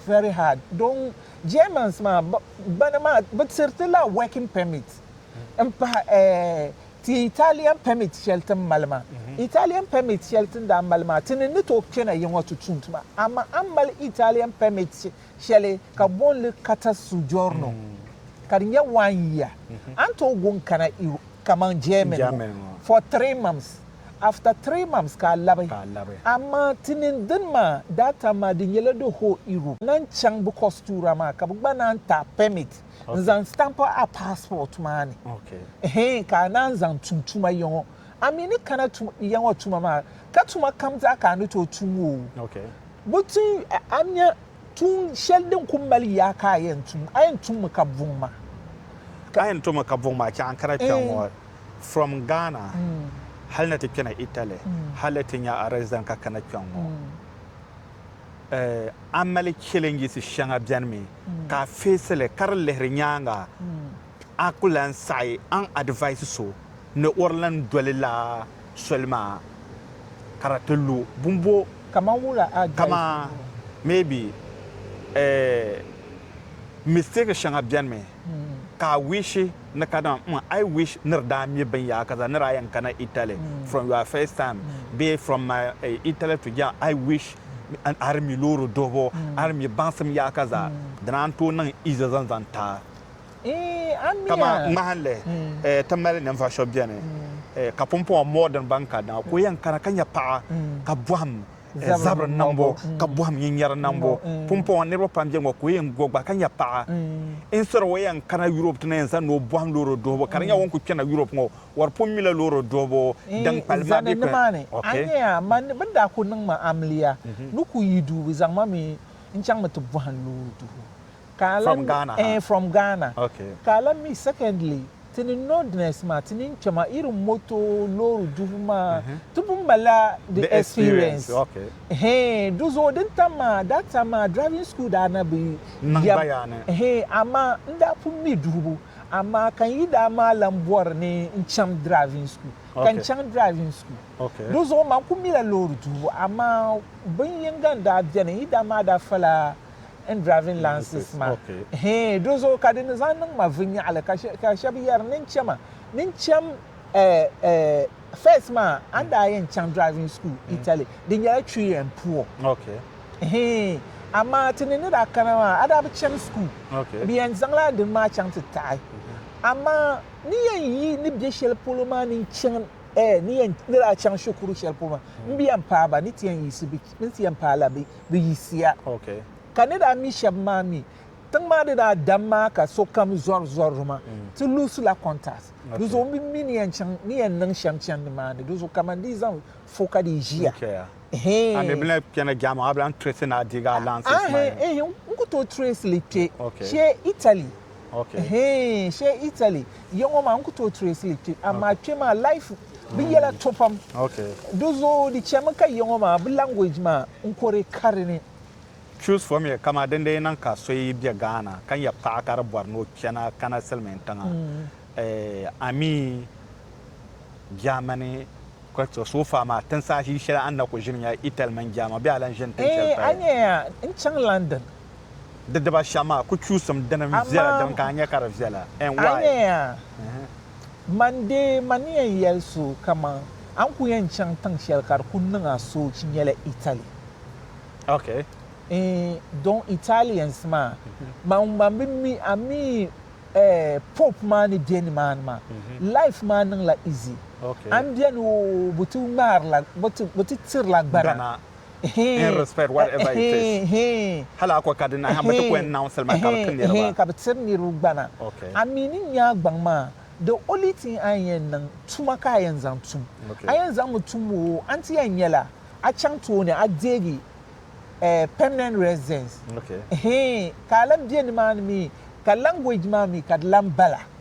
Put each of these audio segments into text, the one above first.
very hard don Germans maa bana maa bɛ tiriti la working permit n pahi ti Italian permit shɛli tin mali maa Italian permit shɛli tin daa mali maa ti ni ni tooi kpɛna yiŋɔ ti tum tuma amaa a ni mali Italian permit shɛli ka boonli carta soggiorno ka di nyɛ one year a ni tooi gu n kana Europe kaman Germany ŋɔ for three months. after three mams ka a labi amaa ti nini dini maa that time maa di nyɛla the whole Europe na n chaŋ bɛ kɔstuura maa ka bɛ gba naan ti a permit n zaŋ stamp a passport maa ni hee ka a naan zaŋ tum tuma yiŋɔ a mi ni kana tum yiŋɔ tuma maa ka tuma kam zaa ka a ni tooi tum o bɛ ti a nya Tuun shɛli din ku mali yaa ka a yɛn tum. A yɛn tummi ka buŋ ma. A yɛn tummi ka buŋ ma chɛ a ni kana kpɛŋ ŋɔ from Ghana hali ni ti kpɛna Italy hali ti nya a resident ka kana kpɛŋ ŋɔ. A mali challenges shɛŋa bɛni mi ka a face li ka di lihiri nyaaŋa. a ku lan saɣi aŋ advice so ni o di lan doli laa soli maa ka di ti lu bumbo Kaman wula advice kaman ŋɔ? maybe eh mistake shɛŋa beni mi ka a wish ni ka dama mm I wish ni di daa mi binyahaka zaa ni daa yɛn kana Italy from your first time bee from my Italy to Germany I wish a di mi loori duhibu a di mi baŋsim yahaka zaa dina n tooi niŋ easy zaŋ zaŋ ti a. Kama ŋmahinli ti mali ninvuɣ shɛb bɛni ka pumpɔŋɔ mɔɣu din ban ka daŋa ka o yɛn kana ka nya paɣa ka bɔhim zabiri niŋbu ka bɔhim nyinyɛri niŋbu. Pumpɔŋɔ niriba pam bɛ ŋɔ ka o yɛn go gba ka nya paɣa. Instead o yɛn kana Europe ti na yɛn zani o bɔhim loori duhibu ka di nya o ni kuli kpɛna Europe ŋɔ wari pun mila loori duhibu din kpalim maa bɛ kpɛ ni. Ka a lan From Ghana ha. eh, from Ghana. Okay. Ka a lan mi, secondly, ti ni nordners maa, ti ni kpe maa, irin moto, loori dubu maa, ti pun malila di The experience, experience. okay. Hee, du zuɣu din tam maa, that time maa driving school daa na bi Niŋ yɛm. gbaya ni. Hee, amaa n daa pun mi duhibu, amaa ka n yi daa maa lan bɔri ni n chaŋ driving school, ka n Okay. chaŋ driving school. Okay. Du zuɣu man ku mila loori duhibu, amaa bin yinga n daa beni, n yi daa maa daa fala, n driving lances ma hee do zuɣu ka di ni zaŋ niŋ ma vinnyaɣili ka shɛb yɛri ni n chɛ ma ni n chɛm first maa a ni daa yɛn chaŋ driving school Italy di nyɛla chui and poor hee amaa ti ni ni daa kana maa a daa bi chani school bɛ yɛn zaŋla a dini maa chaŋ ti taɣi amaa ni yɛn yi ni be shɛli polo maa ni n chɛ ni yɛn ni daa chaŋ shikuru shɛli polo maa m bi yɛn paai ba ni ti yɛn yiɣisi Tinsiya paala bɛ bi yiɣisiya. Ka ni daa mi shɛba maa mi, tiŋ maa di daa dam maa ka sokam zɔri zɔrili maa, ti luɣisila kɔntas. Di zuɣu m bi mi ni yɛn chaŋ ni yɛn niŋ shɛm chani nimaani. Di zuɣu kaman di yi zaŋ fo ka di yi ʒiya. A mi bini kpe na jɛma maa, a bi lan tirɛsi ni a deegi allowances maa ya? Ehe, n ku tooi tirɛsi li kpe shee Italy. Ehe, shee Italy ya ŋɔ maa, n ku tooi tirɛsi li kpe. Amaa kpe maa life. Bɛ yɛla to pam. Do zo di chɛmi ka yiŋɔ maa bɛ language maa n kori kari ni. Choose for me kamaa din dee niŋ ka so yi bɛ Ghana ka nyɛ paɣa ka di bɔri ni o kpɛna kana silimiin tiŋa eh amii Germany Quetzal so far maa tin saha ʒii shɛli a ni na ku ʒili nyɛla Italy mini Germany bee a lan ʒini tin shɛli paya. Eh a nyɛ ya n chaŋ London. Di diba shɛm maa ku chuusim dini n viɛla dini ka a nyɛ ka di viɛla and why? A nyɛ ya. Man dee, man ni yɛn yɛli so kaman a ni ku yɛn chaŋ tiŋ shɛli ka di ku niŋ a soochi nyɛla Italy. Ok. Eeh, don Italians maa, man man bi mi a mi eh Pope maa ni bɛ nimaani maa, life maa niŋla easy. Ok. A ni beni oo, bɛ ti ŋmaarila, bɛ ti, bɛ ti tirila gbana. in respect whatever it is hali a ko ka di nahi mi ti ko yɛn naŋ salima ka bi ti niriba ka bi tiri niriba gbana a mi ni nya a gbaŋ maa the only thing a yɛn niŋ tuma ka a yɛn zaŋ tum a yɛn zaŋ mi tum o a ti yɛn nyɛla a chaŋ tooni a deegi permanent residence ka a lan bɛ ni maa ni mi ka language maa mi ka di lan bala.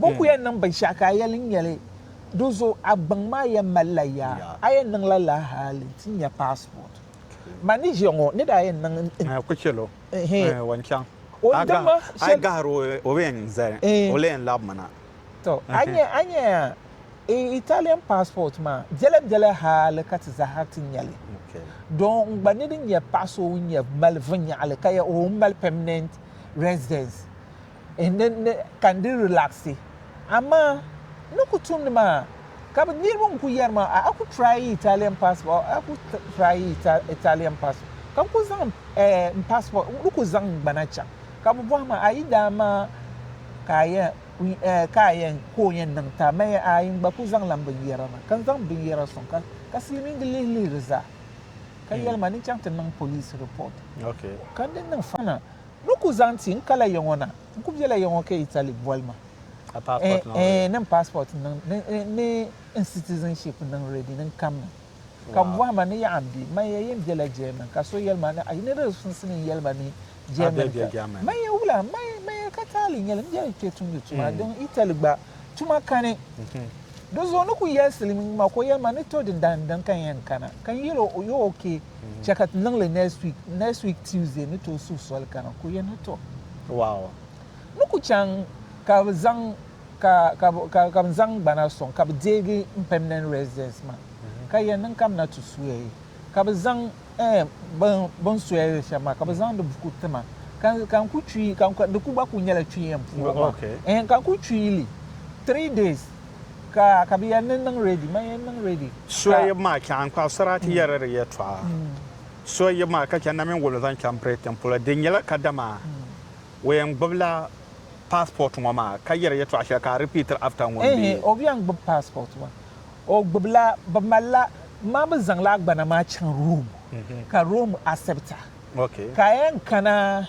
Bɛ ku yɛn niŋ binshɛɣu ka a yɛli n-nyɛli do so a gbaŋ maa yɛn malila yaa, a yɛn niŋla lala hali ti nya passport. Ma ni ʒiya ŋɔ ni daa yɛn niŋ n. Ku chɛl o, o ni chaŋ. A yi gahir o, o bi yɛn zali, o lee yɛn labimi na. Tɔ! A nya a nya Italian passport maa biɛla biɛla hali ka ti zahara ti nya li. Doo n gba ni di nya paɣ so ŋun yɛn mali viɛnyɛɣili ka yɛli o mali permanent residence ka n di relaxi amaa n ni ku tumdi maa ka bi niriba n ku yɛri ma a ku try yi Italian passport a ku try yi Italian passport ka n ku zaŋ n passport n ni ku zaŋ n gbana chaŋ ka bi bɔhi ma a yi daa maa ka a yɛn ka a yɛn ka o yɛn niŋ ti a ma yɛn aai n gba ku zaŋ la n binyɛra na ka n zaŋ binyɛra sɔŋ ka ka silimiingi lihi lihiri zaa ka yɛli ma ni chaŋ ti niŋ police report ka n di niŋ fana. Ni ku zaŋ ti n kala ya ŋɔ na, n ku bela ya ŋɔ ka Italy boli ma eeh ni n passport niŋ ni n citizenship niŋ ready ni n kamina ka bɛ bɔhi ma ni yaɣa n bɛ man ya yen bela German ka so yeli ma a yi ni di sunsi ni n yeli ba ni German ka man ya wula man ya ka taali n yeli m bela kpe tumdi tuma din Italy gba tuma kani di zuɣu ni ku yelsili ma ka o yeli ma ni to dindali n dini ka n yen kana ka n yeli o you're ok. Chɛ ka ti niŋ li next week. Next week Tuesday ni tooi suhi soli kana ka o yɛn ni to. Wow. Ni ku chaŋ ka bɛ zaŋ ka ka ka ka bɛ zaŋ gbana sɔŋ ka bɛ deegi m permanent residence maa ka yɛn niŋ ka bɛ na ti soya yi ka bɛ zaŋ eem bini bini soya yi shɛm maa ka bɛ zaŋdi buku ti ma ka ka n ku kpi ka di ku gba ku nyɛla kpi yɛn puhigu maa eem ka n ku kpi li three days. Ka ka bɛ yɛli ni n niŋ ready, man yɛn niŋ ready. Soyib maa chaŋ n-kpaɣi sarati yɛriri yɛtɔɣa soyib maa ka chɛ namin wolo zaŋ chaŋ Britain polo. Di nyɛla kadama o yɛn gbibila passport ŋɔ maa ka yɛri yɛtɔɣa shɛli ka a repeatiri after ŋun bɛ. Ehe, o bi yɛn gbibi passport maa. O gbibila, bɛ malila, ma bɛ zaŋla agbana maa chaŋ Rome ka Rome accept a. Okay. Ka a yɛn kana.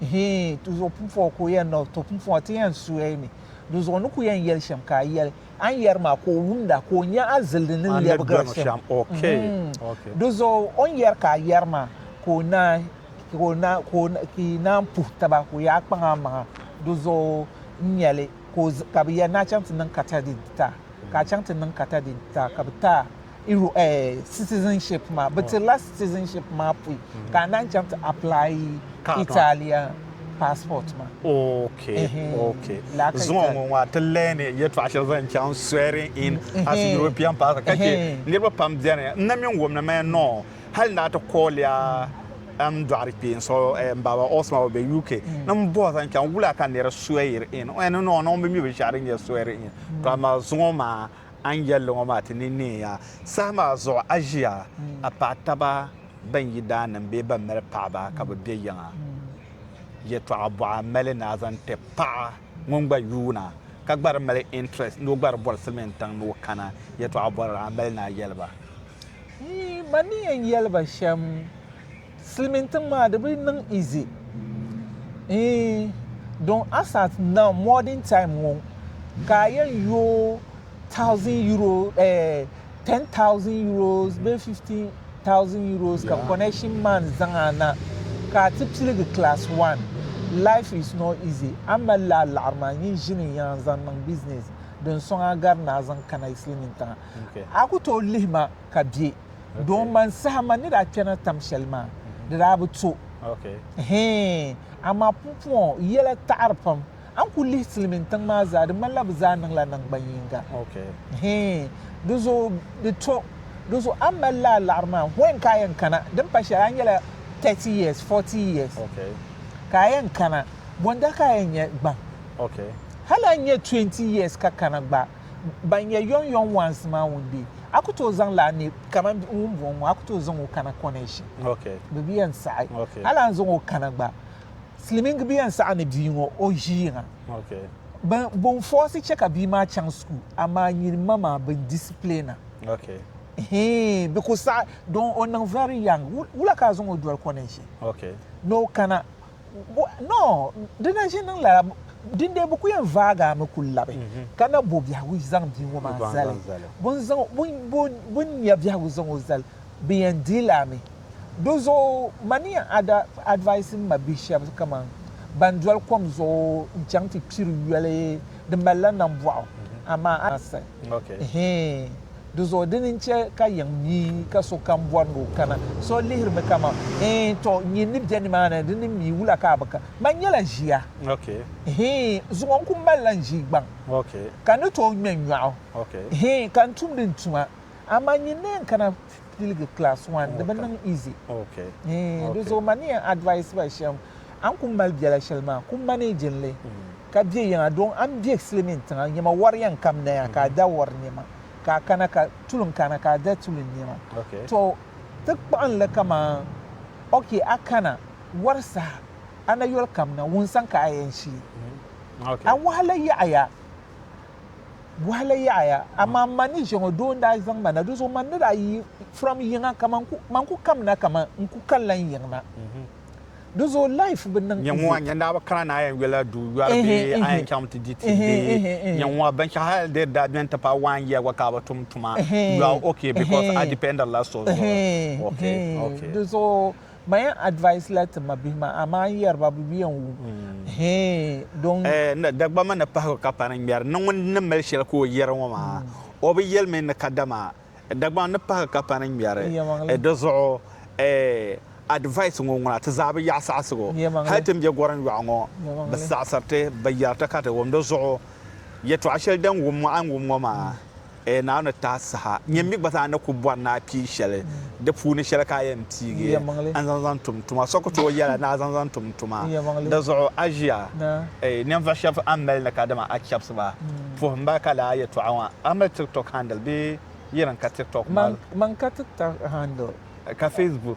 Hii, ti zuɣu pumpɔŋɔ ka o yɛn na o to pumpɔŋɔ ti yɛn suya mi. Di zuɣu ni ku yɛn yɛli shɛm ka a yɛli a ni yɛri maa ka o wumda, ka o nya a zildi ni lɛbigira shɛm. Di zuɣu o ni yɛri ka a yɛri maa ka o naai, ka yi naan puhi taba, ka o yaa kpaŋ a maŋa. Di zuɣu n nyɛli ka bɛ yɛli ni a chaŋ ti niŋ kata din ti ta, ka a chaŋ ti niŋ kata din ti ta, ka bɛ ta a. citizenship maa bi tirila citizenship maa pui ka a naan chaŋ ti apply Italian passport maa. Okay, okay. Zuŋɔ ŋɔ ŋɔ ti learn yɛtɔɣa shɛli zaŋ chaŋ swearing in as European passport ka che niriba pam beni n na mi wumni mi no hali na ti kooliya m dɔɣiri kpee n so m baaba Osman o be UK ni m bɔhi zaŋ chaŋ wula ka niri swear in n no no m bi mi binshɛɣu din nyɛ swearing in to amaa zuŋɔ maa A ni yɛlli ŋɔ maa ti ni neei ya. Saha maa zuɣu a ʒiya, a paɣ taba bɛn yi daa niŋ bee bɛn mali paɣiba ka bɛ be yiŋa. Yɛtɔɣa bɔɣu a mali ni a zaŋ ti paɣa ŋun gba yuuna ka gba di mali interest ni o gba di bɔri silimiintiŋ ni o kana? Yɛtɔɣa bɔrili a mali ni a yɛli ba? Yi ma ni yɛn yɛli ba shɛm. Silimiintiŋ maa di bi niŋ easy eeh don Assad now modern time ŋɔ ka a yɛn yooi thousand euro eh ten thousand euros bee fifteen thousand euros ka connection man zaŋ a na ka a ti piligi class one life is not easy a mali la laɣiri maa nyin ʒini yan zaŋ niŋ business din sɔŋ a gari ni a zaŋ kana yi silimiintiŋa a ku tooi lihi ma. ka bɛ doo ŋmani saha man ni daa kpɛrina tam shɛli maa di daa bi to hee amaa pumpɔŋɔ yɛla taɣiri pam a ni kuli lihi silimin tiŋ maa zaa di ŋmanila bɛ zaa niŋla naŋgban yiŋga hee di zo di to di zo a mali la a laɣiri maa when ka a yɛn kana din pa shɛli a nyɛla 30 years 40 years ka a yɛn kana bɔnda ka a yɛn nyɛ gbaŋ hali a nyɛ 20 years ka kana gba Ban nyɛ yɔŋ yɔŋ ones maa ŋun be, a ku tooi zaŋ la a neei kaman ŋun bɔŋ ŋɔ, a ku tooi zaŋ o kana connection bɛ bia n saɣi hali a ni zaŋ o kana gba silimiingi bia n saɣi ni bia ŋɔ o ʒi yiŋa bɛ n fɔɔsi chɛ ka bia maa chaŋ school amaa nyini ma maa bɛ n discipline a hee bɛ ku saɣi don o niŋ very young wula ka a zaŋ o doli connection ni o kana Bo, no, di na ʒi niŋ lala, dindee bɛ ku yɛn vaag a mi ku labi, ka na bo biɛhigu zaŋ bia ŋɔ maa zali. Bɛ ni zaŋ, bɛ, bɛ, bɛ ni nya biɛhigu zaŋ o zali, bɛ yɛn di li a mi. Di zuɣu ma ni yɛn ad, advice m ma bihi shɛba kaman ban doli kom zuɣu n-chaŋ ti kpiri yoli din mali la Nambɔɣu, amaa a ni lahi saɣi. Hee! Di zuɣu dini n-chɛ ka yiŋ mi ka sokam bɔri ni o kana. So lihirimi kaman, Hee! Tɔ! Nyin ni be nimaani di ni mi wula ka a bi ka? Man nyɛla ʒia. Hee! Zuŋɔ n-ku malila n-ʒii gbaŋ, ka n ni tooi ŋme n-nyɔɣu. Hee! Ka n tumdi n tuma, amaa nyin ni yɛn kana? ti tiligi class one di bi niŋ easy eh, di zuɣu ma ni yɛn advice ba shɛm a ni ku mali biɛla shɛli maa ku managing li ka bɛ yiŋa don a ni bɛ silimin tiŋa nyɛma wari yɛn kam naya ka a da wari nɛma ka a kana ka tulin kana ka a da tulin nɛma to ti kpuɣin li kaman ok a kana wari saha a na yoli kam na wunsan ka a yɛn shii a wahala yaɣiya Bɔhili yaɣiya, amaa m ma ni ʒiɛŋɔ doo n-daa zaŋ ma na, di zuɣu man ni daa yi from yiŋa ka man ku man ku kamina kaman n ku kanila n yiŋ na. Di zuɣu life bi niŋ easy. Nyɛŋuwa, nyɛn daa bi kana ni a yɛn yɔla du yɔri bee a yɛn chaŋmi ti di ti bee nyɛŋuwa binshɛɣu hali di daa beni ti paai one year gba ka a bi tum tuma you are ok because a dependila so zuɣu. Di zuɣu Ma yɛn advice la ti ma bihi maa amaa n yɛri ba bi bi yɛn wum hee don. Dagbamba ni pahigu ka pari ŋmɛri ni ŋun ni mali shɛli ka o yɛri ŋɔ maa o bi yɛli mi ni kadama Dagbamba ni pahigu ka pari ŋmɛri di zuɣu advice ŋɔ ŋuna ti zaa bi yaɣi saɣisigu hali ti ni bɛ gorim yɔɣu ŋɔ bi saɣisiri ti bi yɛri ti ka ti wum di zuɣu yɛtɔɣa shɛli din wum ŋɔ a ni wum ŋɔ maa. Ee Naawuni tahi saha, nyini mi gba zaa ni ku bɔri ni a pii shɛli di puuni shɛli ka a yɛn piigi n-zaŋ zaŋ tum n tuma. So ku tooi yɛla ni a zaŋ zaŋ tum n tuma. Di zuɣu a ʒiya, ee ninvuɣ shɛb a ni mali ni kadama a chɛbisi ba, puhi m ba ka laa yɛtɔɣa ŋɔ, a mali TikTok handle bee? Yi di ni ka TikTok mali? Man ka TikTok handle. Ka Facebook?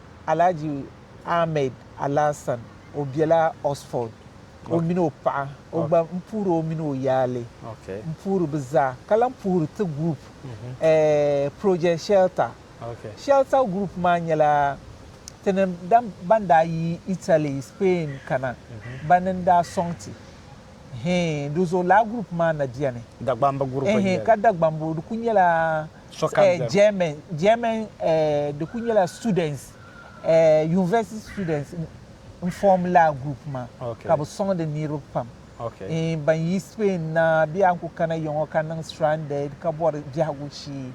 Alhaji Ahmed Alasan o bela Oxford o mini o paɣa o gba n puhiri o mini o yaali n puhiri bɛ zaa ka lan puhiri ti group Project Shelter Shelter group maa nyɛla ti ni ban daa yi Italy Spain kana ba ni n daa sɔŋ ti hee di zuɣu lala group maa na beni Dagbamba group n nyɛli ka Dagbamba di kuli nyɛla eh, German, German, eh, di ku nyɛla students, eh, university students n form la group ma okay. ka bi song the niriba pam okay. eh, ban yi Spain na bɛ an ku kana yɔŋɔ ka niŋ stranded ka bɔri biɛhigu shee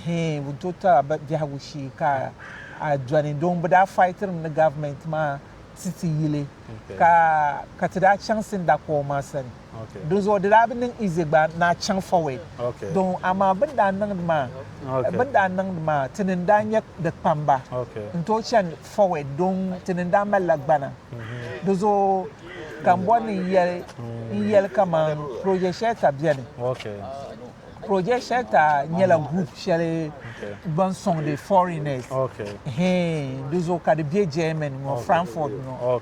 eh, n to tara biɛhigu shee ka a dɔni don bi daa fightirim ni government ma ti ti yili okay. ka ka ti daa chaŋ Sindakɔɔ ma sani Dinzuɣu di daa bi niŋ izi gba ni a chaŋ forward dɔŋ amaa bɛ ni daa niŋdi maa bɛ ni daa niŋdi maa tini n-daa nyɛ di kpamba n-tooi chani forward dɔŋ tini n-daa malila gbana. Dinzuɣu ka m bɔri ni n yɛli kaman project shɛli ka beni. Project Shelter nyɛla group shɛli ban sɔŋdi foreigners di zuɣu ka di be Germany ŋɔ Frankfurt ŋɔ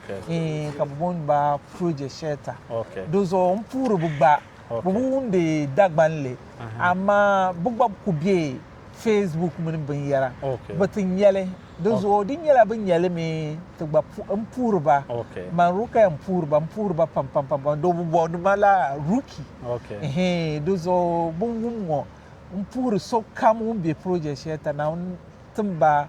ka bɛ booni ba Project Shelter di zuɣu m puhiri bɛ gba bɛ bi wumdi Dagbanli amaa bɛ gba kuli be Facebook mini binyɛra bi ti nyɛli di zuɣu di nyɛla bi nyɛli mi ti gba n puhiri ba man rukaya n puhiri ba n puhiri ba pam pam pam pam do bi bɔbi ni ma la ruki di zuɣu bin wum ŋɔ n puhiri sokam ŋun bɛ project shɛli ta naawuni tim ba